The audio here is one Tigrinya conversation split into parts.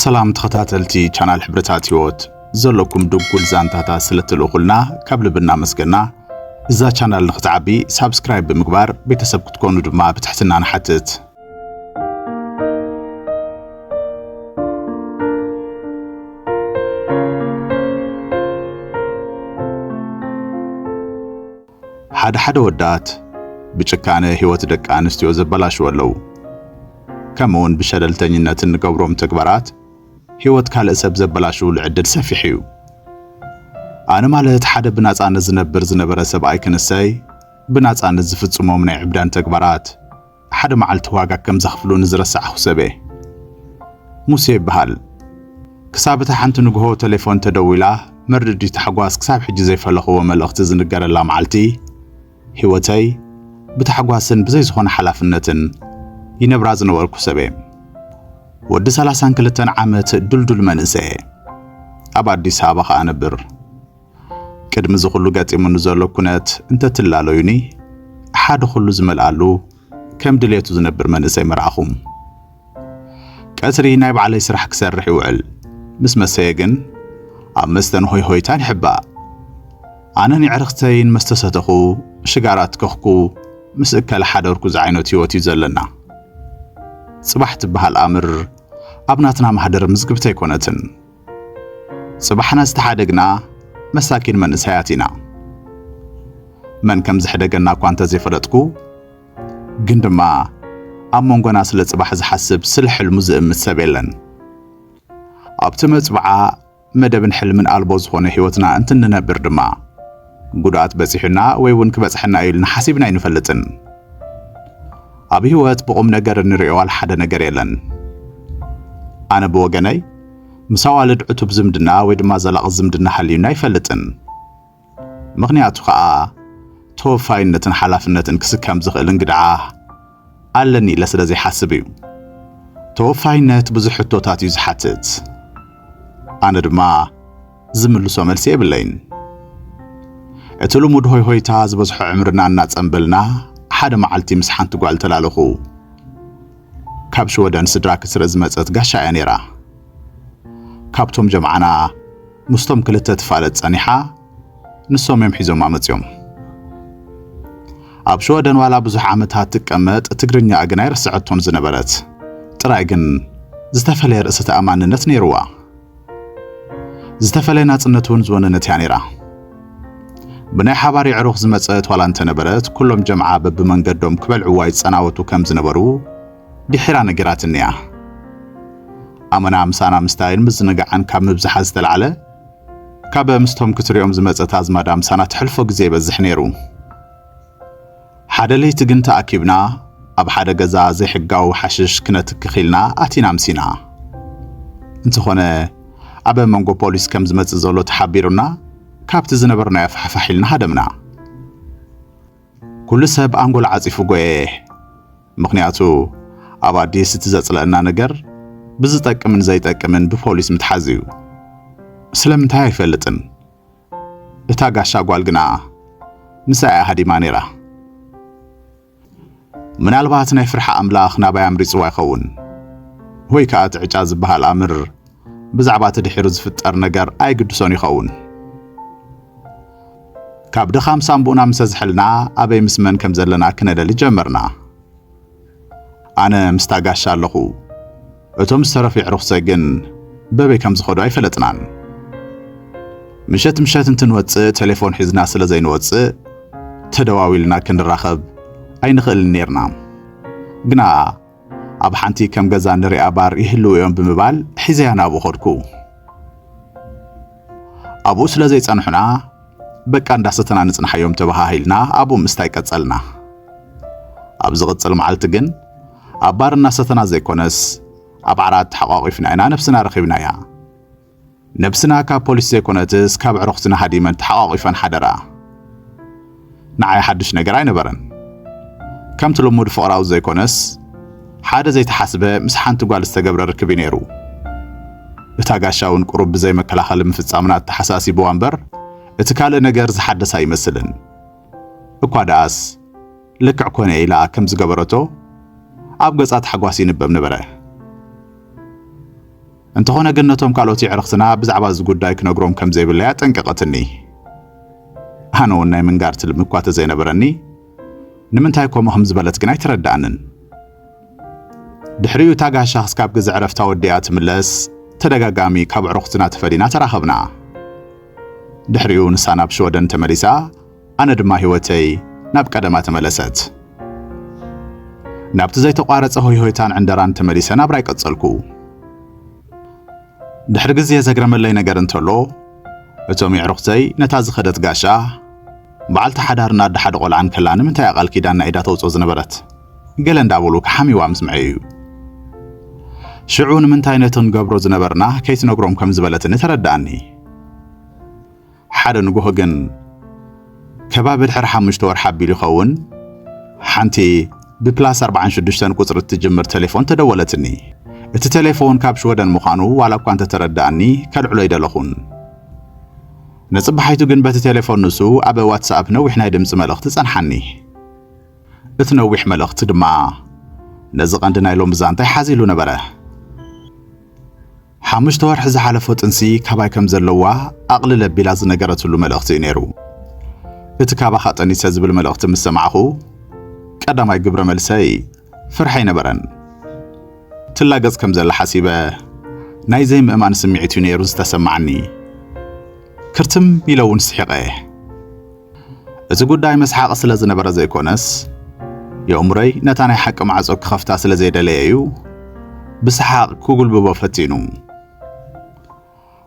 ሰላም ተኸታተልቲ ቻናል ሕብርታት ህይወት ዘለኩም ድጉል ዛንታታት ስለትልእኹልና ካብ ልቢ እናመስገና እዛ ቻናል ንክትዓቢ ሳብስክራይብ ብምግባር ቤተሰብ ክትኮኑ ድማ ብትሕትና ንሓትት። ሓደ ሓደ ወዳት ብጭካነ ህይወት ደቂ ኣንስትዮ ዘበላሽዎ ኣለዉ። ከምኡውን ብሸለልተኝነት እንገብሮም ተግባራት ህይወት ካልእ ሰብ ዘበላሽውሉ ዕድል ሰፊሕ እዩ። ኣነ ማለት ሓደ ብናጻነት ዝነብር ዝነበረ ሰብኣይ ክንሰይ ብናጻነት ዝፍጽሞም ናይ ዕብዳን ተግባራት ሓደ መዓልቲ ዋጋ ከም ዘኽፍሉኒ ዝረሳዕኹ ሰብ'የ። ሙሴ ይበሃል። ክሳብ እታ ሓንቲ ንግሆ ተሌፎን ተደዊላ መርድዲ ታሕጓስ ክሳብ ሕጂ ዘይፈለኽዎ መልእኽቲ ዝንገረላ መዓልቲ፣ ህይወተይ ብታሕጓስን ብዘይ ዝኾነ ሓላፍነትን ይነብራ ዝነበርኩ ሰብ'የ። ወዲ ሰላሳን ክልተን ዓመት ድልዱል መንእሰይ'የ። ኣብ ኣዲስ ኣበባ ከኣ እነብር። ቅድሚ እዚ ኩሉ ገጢሙኒ ዘሎ ኩነት እንተትላለዩኒ ሓደ ኩሉ ዝመልኣሉ ከም ድሌቱ ዝነብር መንእሰይ ምረኣኹ። ቀትሪ ናይ ባዕለይ ስራሕ ክሰርሕ ይውዕል፣ ምስ መሰየ ግን ኣብ መስተን ሆይ ሆይታን ይሕባእ። ኣነን የዕርኽተይን መስተሰተኹ ሽጋራ ትከኽኩ ምስ እከለ ሓደርኩ ዝዓይነቱ ህይወት እዩ ዘለና። ጽባሕ ትበሃል ኣምር ኣብ ናትና ማህደር ምዝግብቲ ኣይኮነትን። ጽባሕና ዝተሓደግና መሳኪን መንእሰያት ኢና። መን ከም ዝሕደገና እኳ እንተ ዘይፈለጥኩ ግን ድማ ኣብ መንጎና ስለ ጽባሕ ዝሓስብ ስለ ሕልሙ ዝእምት ሰብ የለን። ኣብቲ መጽብዓ መደብን ሕልምን ኣልቦ ዝኾነ ህይወትና እንትንነብር ድማ ጉድኣት በጺሑና ወይ እውን ክበጽሐና እዩ ኢልና ሓሲብና ኣይንፈልጥን። ኣብ ህይወት ብቑም ነገር እንርእዮ ዋላ ሓደ ነገር የለን። ኣነ ብወገነይ ምስ ኣዋልድ ዕቱብ ዝምድና ወይ ድማ ዘላቒ ዝምድና ሃልዩኒ ኣይፈልጥን። ምኽንያቱ ከኣ ተወፋይነትን ሓላፍነትን ክስከም ዝኽእል እንግድዓ ኣለኒ ኢለ ስለ ዘይሓስብ እዩ። ተወፋይነት ብዙሕ ሕቶታት እዩ ዝሓትት። ኣነ ድማ ዝምልሶ መልሲ የብለይን። እቲ ልሙድ ሆይሆይታ ዝበዝሖ ዕምርና እናጸንበልና፣ ሓደ መዓልቲ ምስ ሓንቲ ጓል ተላለኹ። ካብ ሽወደን ስድራ ክትርኢ ዝመጸት ጋሻ እያ ነይራ። ካብቶም ጀምዓና ምስቶም ክልተ ትፋለጥ ጸኒሓ፣ ንሶም እዮም ሒዞማ መጺኦም። ኣብ ሽወደን ዋላ ብዙሕ ዓመታት ትቀመጥ፣ ትግርኛኣ ግን ኣይረሰዐቶን ዝነበረት። ጥራይ ግን ዝተፈለየ ርእሰ ተኣማንነት ነይርዋ። ዝተፈለየ ናጽነት እውን ዝወነነት እያ ነይራ። ብናይ ሓባር የዕሩኽ ዝመጸት ዋላ እንተነበረት ኩሎም ጀምዓ በብመንገዶም ክበልዕዋ ይጸናወቱ ከም ዝነበሩ ድሒራ ነጊራትኒ እያ። ኣመና ምሳና ምስታይን ምዝንጋዕን ካብ ምብዝሓ ዝተላዕለ ካብ ምስቶም ክትሪኦም ዝመጸት ኣዝማዳ ምሳና ተሕልፎ ግዜ ይበዝሕ ነይሩ። ሓደ ለይቲ ግን ተኣኪብና ኣብ ሓደ ገዛ ዘይሕጋዊ ሓሽሽ ክነትክኽ ኢልና ኣቲና ኣምሲና። እንተኾነ ኣብ መንጎ ፖሊስ ከም ዝመጽእ ዘሎ ተሓቢሩና ካብቲ ዝነበርናዮ ፋሕፋሕ ኢልና ሃደምና። ኩሉ ሰብ ኣንጎል ዓጺፉ ጎየ። ምኽንያቱ ኣብ ኣዲስ እቲ ዘጽለእና ነገር ብዝጠቅምን ዘይጠቅምን ብፖሊስ ምትሓዝ እዩ። ስለምንታይ ኣይፈልጥን፣ እታ ጋሻ ጓል ግና ምሳይ እያ ሃዲማ ነይራ። ምናልባት ናይ ፍርሒ ኣምላኽ ናባይ ኣምሪጽዋ ይኸውን ወይ ከኣ እቲ ዕጫ ዝበሃል ኣምር ብዛዕባ እቲ ድሒሩ ዝፍጠር ነገር ኣይግድሶን ይኸውን። ካብ ድኻም ሳንቡእና ምሰ ዝሕልና ኣበይ ምስ መን ከም ዘለና ክነለሊ ጀመርና። ኣነ ምስታ ጋሻ ኣለኹ። እቶም ዝተረፉ የዕሩኽተይ ግን በበይ ከም ዝኸዱ ኣይፈለጥናን። ምሸት ምሸት እንትንወጽእ ቴሌፎን ሒዝና ስለ ዘይንወጽእ ተደዋዊልና ክንራኸብ ኣይንኽእልን ኔርና። ግና ኣብ ሓንቲ ከም ገዛ ንሪኣ ባር ይህልዉ እዮም ብምባል ሒዘያ ናብኡ ኸድኩ። ኣብኡ ስለ ዘይጸንሑና በቃ እንዳሰተና ንጽንሓዮም ተበሃሂልና ኣብኡ ምስታይ ቀጸልና። ኣብ ዝቕጽል መዓልቲ ግን ኣብ ባር እናሰተና ዘይኮነስ ኣብ ዓራት ተሓቋቒፍና ኢና ነብስና ረኺብናያ። ነብስና ካብ ፖሊስ ዘይኮነትስ ካብ ኣዕሩኽትና ሃዲመን ተሓቋቒፈን ሓደራ። ንዓይ ሓድሽ ነገር ኣይነበረን። ከምቲ ልሙድ ፍቕራዊ ዘይኰነስ፣ ሓደ ዘይተሓስበ ምስ ሓንቲ ጓል ዝተገብረ ርክብ'ዩ ነይሩ። እታ ጋሻ'ውን ቁሩብ ብዘይ መከላኸሊ ምፍጻምና ኣተሓሳሲቡዋ እምበር፣ እቲ ካልእ ነገር ዝሓደስ ኣይመስልን። እኳ ደኣስ፣ ልክዕ ኰነ ኢላ ከም ዝገበረቶ ኣብ ገጻ ታሕጓስ ይንበብ ነበረ። እንተኾነ ግን ነቶም ካልኦት የዕርኽትና ብዛዕባ እዚ ጉዳይ ክነግሮም ከም ዘይብለይ ኣጠንቀቐትኒ። ኣነ እውን ናይ ምንጋር ትልሚ እኳ ተዘይነበረኒ ንምንታይ ከምኡ ከም ዝበለት ግን ኣይተረድኣንን። ድሕሪኡ እታ ጋሻ ክስካብ ግዜ ዕረፍታ ወዲኣ ትምለስ ተደጋጋሚ ካብ ኣዕሩኽትና ተፈሊና ተራኸብና። ድሕሪኡ ንሳ ናብ ሽወደን ተመሊሳ ኣነ ድማ ህይወተይ ናብ ቀደማ ተመለሰት። ናብቲ ዘይተቋረጸ ሆይሆይታን ዕንደራን ተመሊሰ ናብራይ ቀጸልኩ። ድሕሪ ግዜ ዘግረመለይ ነገር እንተሎ እቶም የዕሩኽተይ ነታ ዝኸደት ጋሻ በዓልቲ ሓዳርን ኣደ ሓደ ቆልዓን ከላ ንምንታይ እያ ቃል ኪዳን ናይ ኢዳ ተውጽኦ ዝነበረት ገለ እንዳበሉ ክሓምይዋ ምስ ምዐዩ እዩ። ሽዑ ንምንታይ ነቲ ክንገብሮ ዝነበርና ከይትነግሮም ከም ዝበለትኒ ተረድኣኒ። ሓደ ንጉሆ ግን ከባቢ ድሕሪ ሓሙሽተ ወርሒ ኣቢሉ ይኸውን ሓንቲ ብፕላስ ኣርብዓን ሽዱሽተን ቁጽሪ እትጅምር ተሌፎን ተደወለትኒ። እቲ ተሌፎን ካብ ሽወደን ምዃኑ ዋላ እኳ እንተተረድኣኒ ከልዕሎ ኣይደለኹን። ንጽባሒቱ ግን በቲ ተሌፎን ንሱ ኣብ ዋትስኣፕ ነዊሕ ናይ ድምጺ መልእኽቲ ጸንሓኒ። እቲ ነዊሕ መልእኽቲ ድማ ነዚ ቀንዲ ናይ ሎሚ ዛንታይ ሓዚሉ ነበረ። ሓሙሽተ ወርሒ ዝሓለፎ ጥንሲ ካባይ ከም ዘለዋ ኣቕልል ኣቢላ ዝነገረትሉ መልእኽቲ እዩ ነይሩ። እቲ ካባኻ ጠኒሰ ዝብል መልእኽቲ ምስ ሰማዕኹ ቀዳማይ ግብረ መልሰይ ፍርሒ ኣይነበረን። ትላገጽ ከም ዘላ ሓሲበ ናይ ዘይምእማን ስምዒት እዩ ነይሩ ዝተሰማዓኒ። ክርትም ኢለ እውን ስሒቐ። እቲ ጉዳይ መስሓቒ ስለ ዝነበረ ዘይኮነስ፣ የእምሮይ ነታ ናይ ሓቂ ማዕጾ ክኸፍታ ስለ ዘይደለየ እዩ ብሰሓቕ ክጉልብቦ ፈቲኑ።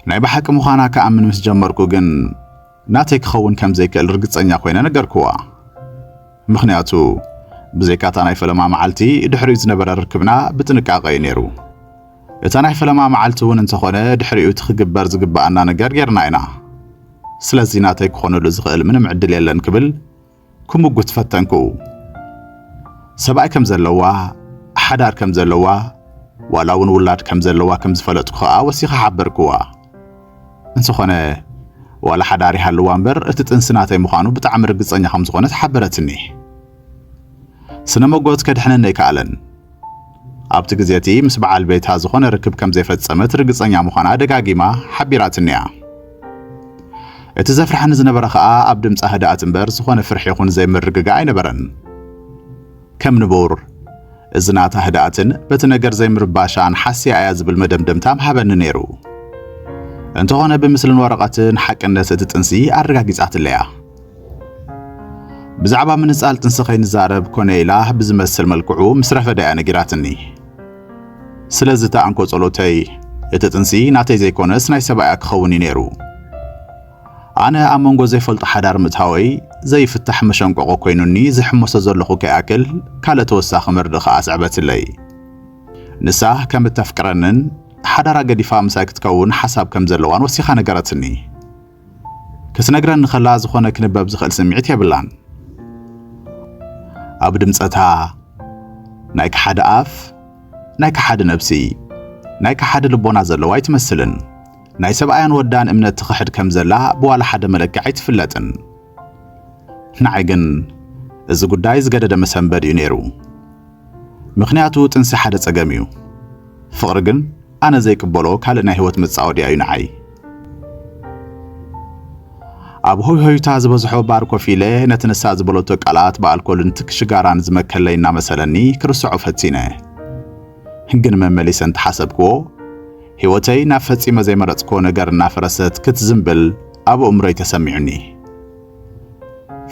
ናይ ብሓቂ ምዃና ክኣምን ምስ ጀመርኩ ግን ናተይ ክኸውን ከም ዘይክእል ርግጸኛ ኮይነ ነገርክዋ። ምኽንያቱ ብዘይካታ ናይ ፈለማ መዓልቲ ድሕሪኡ ዝነበረ ርክብና ብጥንቃቐ እዩ ነይሩ። እታ ናይ ፈለማ መዓልቲ እውን እንተኾነ ድሕሪኡ እቲ ክግበር ዝግብኣና ነገር ጌርና ኢና። ስለዚ ናተይ ክኾነሉ ዝኽእል ምንም ዕድል የለን ክብል ክምጉት ፈተንኩ። ሰብኣይ ከም ዘለዋ፣ ሓዳር ከም ዘለዋ፣ ዋላ እውን ውላድ ከም ዘለዋ ከም ዝፈለጥኩ ኸኣ ወሲኸ ሓበርክዋ። እንተኾነ ዋላ ሓዳር ይሃልዋ እምበር እቲ ጥንሲ ናተይ ምዃኑ ብጣዕሚ ርግጸኛ ከም ዝኾነት ሓበረትኒ። ስነ መጎት ከድሕነኒ ኣይከኣለን። ኣብቲ ግዜ እቲ ምስ በዓል ቤታ ዝዀነ ርክብ ከም ዘይፈጸመት ርግጸኛ ምዃና ደጋጊማ ሓቢራትኒ'ያ። እቲ ዘፍርሓኒ ዝነበረ ኸኣ ኣብ ድምጻ ህድኣት እምበር ዝዀነ ፍርሒ ይኹን ዘይምርግጋእ ኣይነበረን። ከም ንቡር እዚ ናታ ህድኣትን በቲ ነገር ዘይምርባሻን ሓሲያ'ያ ዝብል መደምደምታ ምሃበኒ ነይሩ። እንተዀነ ብምስልን ወረቐትን ሓቅነት እቲ ጥንሲ ኣረጋጊጻትለይ'ያ። ብዛዕባ ምንጻል ጥንሲ ከይንዛረብ ኮነ ኢላ ብዝመስል መልክዑ ምስ ረፈዳ እያ ነጊራትኒ። ስለዚ እታ እንኮ ጸሎተይ እቲ ጥንሲ ናተይ ዘይኮነስ ናይ ሰብኣያ ክኸውን እዩ ነይሩ። ኣነ ኣብ መንጎ ዘይፈልጦ ሓዳር ምእታወይ ዘይፍታሕ መሸንቆቆ ኮይኑኒ ዝሕመሶ ዘለኹ ከይኣክል ካልእ ተወሳኺ መርድእ ከዓ ስዕበትለይ ንሳ ከም እተፍቅረንን ሓዳራ ገዲፋ ምሳይ ክትከውን ሓሳብ ከም ዘለዋን ወሲኻ ነገረትኒ ክትነግረኒ ከላ ዝኾነ ክንበብ ዝኽእል ስምዒት የብላን። ኣብ ድምጸታ ናይ ከሓዲ ኣፍ፣ ናይ ከሓዲ ነብሲ፣ ናይ ከሓዲ ልቦና ዘለዋ ኣይትመስልን። ናይ ሰብኣያን ወዳን እምነት ትኽሕድ ከም ዘላ ብዋላ ሓደ መለክዒ ኣይትፍለጥን። ንዓይ ግን እዚ ጉዳይ ዝገደደ መሰንበድ እዩ ነይሩ። ምኽንያቱ ጥንሲ ሓደ ጸገም እዩ፣ ፍቕሪ ግን ኣነ ዘይቅበሎ ካልእ ናይ ህይወት መጻወድያ እዩ ንዓይ። ኣብ ሆይሆይታ ዝበዝሖ ባር ኮፍ ኢለ ነቲ ንሳ ዝበለቶ ቃላት ብኣልኮልን ትክ ሽጋራን ዝመከለይ እናመሰለኒ ክርስዖ ፈቲነ። ግን መመሊሰ እንተሓሰብክዎ ህይወተይ ናብ ፈጺመ ዘይመረጽክዎ ነገር እናፈረሰት ክትዝምብል ኣብ ኣእምሮይ ተሰሚዑኒ።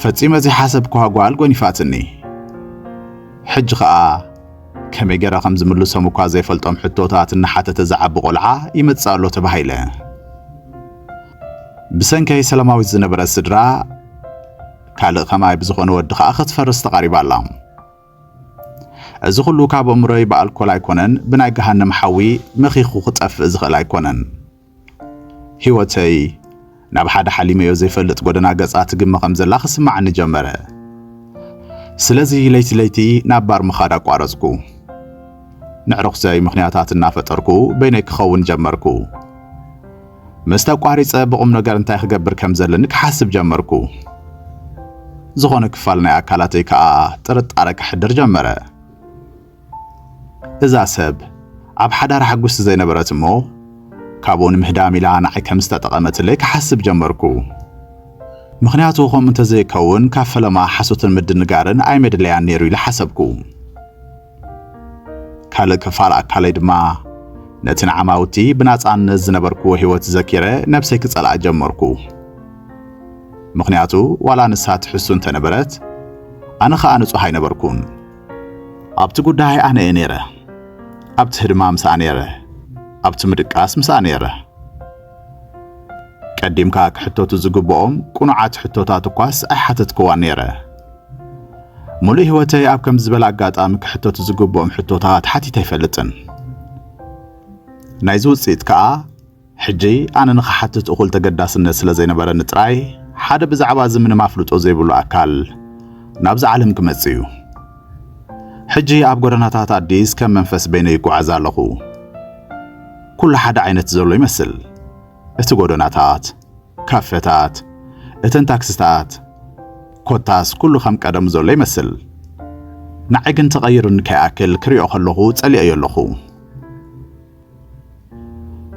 ፈጺመ ዘይሓሰብክዋ ጓል ጎኒፋትኒ። ሕጂ ኸኣ ከመይ ገረ ከም ዝምልሶም እኳ ዘይፈልጦም ሕቶታት እናሓተተ ዝዓቢ ቆልዓ ይመጽእ ኣሎ ተባሂለ። ብሰንከይ ሰላማዊት ዝነበረ ስድራ ካልእ ከማይ ብዝኾነ ወዲ ኸኣ ክትፈርስ ተቓሪባ ኣላ። እዚ ኹሉ ካብ እምሮይ ብኣልኮል ኣይኮነን ብናይ ገሃነም ሓዊ መኺኹ ክጠፍእ ዝኽእል ኣይኮነን። ህይወተይ ናብ ሓደ ሓሊመዮ ዘይፈልጥ ጎደና ገጻ ትግመ ከም ዘላ ክስማዓኒ ጀመረ። ስለዚ ለይቲ ለይቲ ናብ ባር ምኻድ ኣቋረጽኩ። ንዕርኹተይ ምኽንያታት እናፈጠርኩ በይነይ ክኸውን ጀመርኩ። ምስ ተቋሪጸ ብቑም ነገር እንታይ ክገብር ከም ዘለኒ ክሓስብ ጀመርኩ። ዝኾነ ክፋል ናይ ኣካላተይ ከኣ ጥርጣረ ከሕድር ጀመረ። እዛ ሰብ ኣብ ሓዳራ ሕጉስቲ ዘይነበረት እሞ ካብኡ ንምህዳም ኢላ ንዓይ ከም ዝተጠቐመትለይ ክሓስብ ጀመርኩ። ምኽንያቱ ከምኡ እንተዘይከውን ካብ ፈለማ ሓሶትን ምድንጋርን ኣይመድለያን ነይሩ ኢለ ሓሰብኩ። ካልእ ክፋል ኣካለይ ድማ ነቲ ንዓማውቲ ብናጻነት ዝነበርኩዎ ህይወት ዘኪረ ነብሰይ ክጸልኣ ጀመርኩ። ምኽንያቱ ዋላ ንሳ ትሕሱ እንተነበረት ኣነ ኸኣ ንጹህ ኣይነበርኩን። ኣብቲ ጉዳይ ኣነ እየ ነይረ፣ ኣብቲ ህድማ ምስኣ ነይረ፣ ኣብቲ ምድቃስ ምስኣ ነይረ። ቀዲምካ ክሕተቱ ዝግብኦም ቅኑዓት ሕቶታት እኳስ ኣይሓተትክዋን ነይረ። ሙሉእ ህይወተይ ኣብ ከምዚ ዝበለ ኣጋጣሚ ክሕተቱ ዝግብኦም ሕቶታት ሓቲተ ኣይፈልጥን። ናይዚ ውፅኢት ከዓ ሕጂ ኣነ ንኽሓትት እኹል ተገዳስነት ስለ ዘይነበረኒ ጥራይ፣ ሓደ ብዛዕባ እዚ ምንም ኣፍልጦ ዘይብሉ ኣካል ናብዛ ዓለም ክመጽእ እዩ። ሕጂ ኣብ ጎደናታት ኣዲስ ከም መንፈስ በይነይ ይጓዓዝ ኣለኹ። ኩሉ ሓደ ዓይነት ዘሎ ይመስል፣ እቲ ጎደናታት፣ ካፈታት፣ እተን ታክስታት፣ ኮታስ ኩሉ ከም ቀደሙ ዘሎ ይመስል። ንዓይ ግን ተቐይሩኒ ከይኣክል ክሪኦ ከለኹ ጸሊኤዮ ኣለኹ።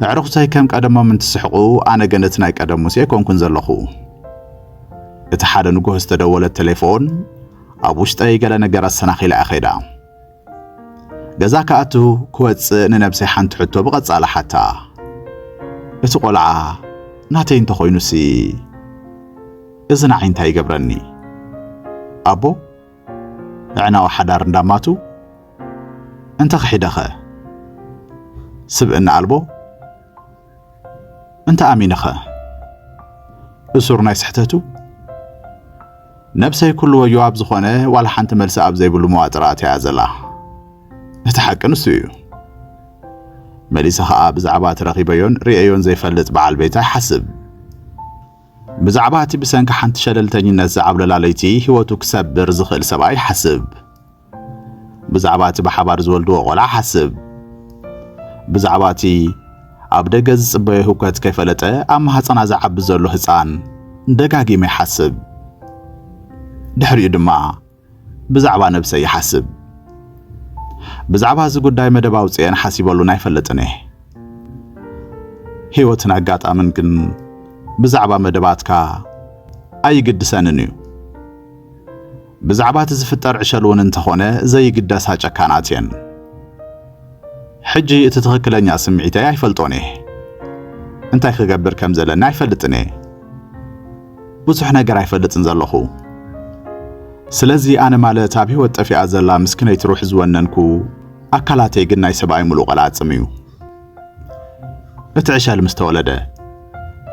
ኣዕሩኽተይ ከም ቀደሞም እንትስሕቑ ኣነ ግን እቲ ናይ ቀደም ሙሴ ኮንኩን ዘለኹ። እቲ ሓደ ንጉሆ ዝተደወለት ቴሌፎን ኣብ ውሽጠይ ገለ ነገር ኣሰናኺላ'ያ ኸይዳ። ገዛ ክኣቱ ክወጽእ ንነብሰይ ሓንቲ ሕቶ ብቐጻሊ ሓታ። እቲ ቆልዓ ናተይ እንተኾይኑሲ እዚ ንዓይ እንታይ ይገብረኒ? ኣቦ ኣዕናዊ ሓዳር እንዳማቱ እንተኽሒደኸ ስብእና ኣልቦ እንተ ኣሚንኸ እሱር ናይ ስሕተቱ ነብሰይ ኩሉ ወዮ ኣብ ዝኾነ ዋላ ሓንቲ መልሲ ኣብ ዘይብሉ መዋጥር ኣትያ ዘላ እቲ ሓቂ ንሱ እዩ መሊሰ ኸኣ ብዛዕባ እቲ ረኺበዮን ርእዮን ዘይፈልጥ በዓል ቤታ ይሓስብ ብዛዕባ እቲ ብሰንኪ ሓንቲ ሸለልተኝነት ዝዓብለላ ለይቲ ህይወቱ ክሰብር ዝኽእል ሰብኣይ ሓስብ። ብዛዕባ እቲ ብሓባር ዝወልድዎ ቆልዓ ሓስብ። ብዛዕባ እቲ ኣብ ደገ ዝጽበዮ ህውከት ከይፈለጠ ኣብ ማህጸና ዝዓቢ ዘሎ ህጻን ደጋጊመ ይሓስብ። ድሕሪኡ ድማ ብዛዕባ ነብሰይ ይሓስብ። ብዛዕባ እዚ ጉዳይ መደብ ኣውጺኤን ሓሲበሉን ኣይፈልጥን እየ። ህይወትን ኣጋጣምን ግን ብዛዕባ መደባትካ ኣይግድሰንን እዩ። ብዛዕባ እቲ ዝፍጠር ዕሸል እውን እንተኾነ ዘይግደሳ ጨካናት እየን። ሕጂ እቲ ትኽክለኛ ስምዒተይ ኣይፈልጦን እየ። እንታይ ክገብር ከም ዘለኒ ኣይፈልጥን እየ። ብዙሕ ነገር ኣይፈልጥን ዘለኹ ስለዚ ኣነ ማለት ኣብ ህይወት ጠፊኣ ዘላ ምስክነይቲ ሩሕ ዝወነንኩ ኣካላተይ ግን ናይ ሰብኣይ ምሉእ ቐላጽም እዩ እቲ ዕሸል ምስ ተወለደ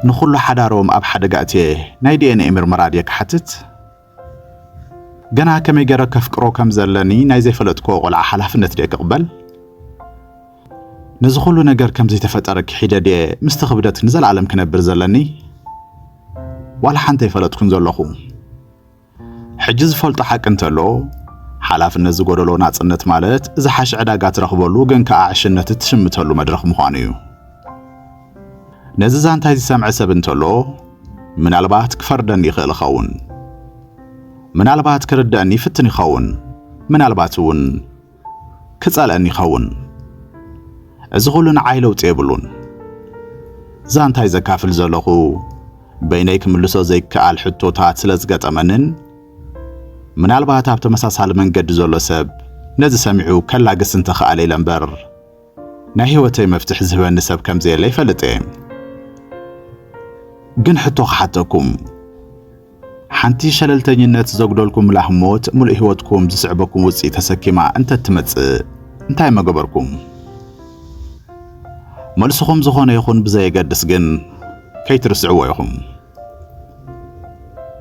ንኹሉ ሓዳሮም ኣብ ሓደጋ እትየ ናይ ዲኤንኤ ምርመራ ድየ ክሓትት ገና ከመይ ገረ ከፍቅሮ ከም ዘለኒ ናይ ዘይፈለጥክዎ ቆልዓ ሓላፍነት ድየ ክቕበል? ነዚ ኹሉ ነገር ከም ዘይተፈጠረ ክሒደ ድየ ምስቲ ክብደት ንዘለኣለም ክነብር ዘለኒ? ዋላ ሓንቲ ኣይፈለጥኩን ዘለኹ። ሕጂ ዝፈልጦ ሓቂ እንተሎ ሓላፍነት ዝጎደሎ ናጽነት ማለት ዝሓሸ ዕዳጋ ትረኽበሉ ግን ከኣ ዕሽነት እትሽምተሉ መድረኽ ምዃኑ እዩ። ነዚ ዛንታይ ዝሰምዐ ሰብ እንተሎ ምናልባት ክፈርደኒ ይኽእል ይኸውን፣ ምናልባት ክርደእኒ ይፍትን ይኸውን፣ ምናልባት እውን ክጸልአኒ ይኸውን። እዚ ኹሉ ንዓይ ለውጢ የብሉን። ዛንታይ ዘካፍል ዘለኹ በይነይ ክምልሶ ዘይከኣል ሕቶታት ስለ ዝገጠመንን ምናልባት ኣብ ተመሳሳሊ መንገዲ ዘሎ ሰብ ነዚ ሰሚዑ ከላግስ እንተኸኣለ ኢለ እምበር ናይ ሂወተይ መፍትሕ ዝህበኒ ሰብ ከምዘየለ ይፈልጥ እየ ግን ሕቶ ክሓተኩም ሓንቲ ሸለልተኝነት ዘጉደልኩምላ ሞት ሙሉእ ሂወትኩም ዝስዕበኩም ውጽኢት ተሰኪማ እንተትመጽእ እንታይ መገበርኩም መልስኹም ዝኾነ ይኹን ብዘየገድስ ግን ከይትርስዕዎ ኢኹም።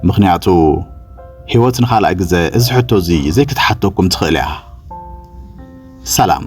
ምኽንያቱ ህይወት ንኻልኣይ ግዘ እዚ ሕቶ እዚ ዘይክትሓተኩም ትኽእል እያ። ሰላም።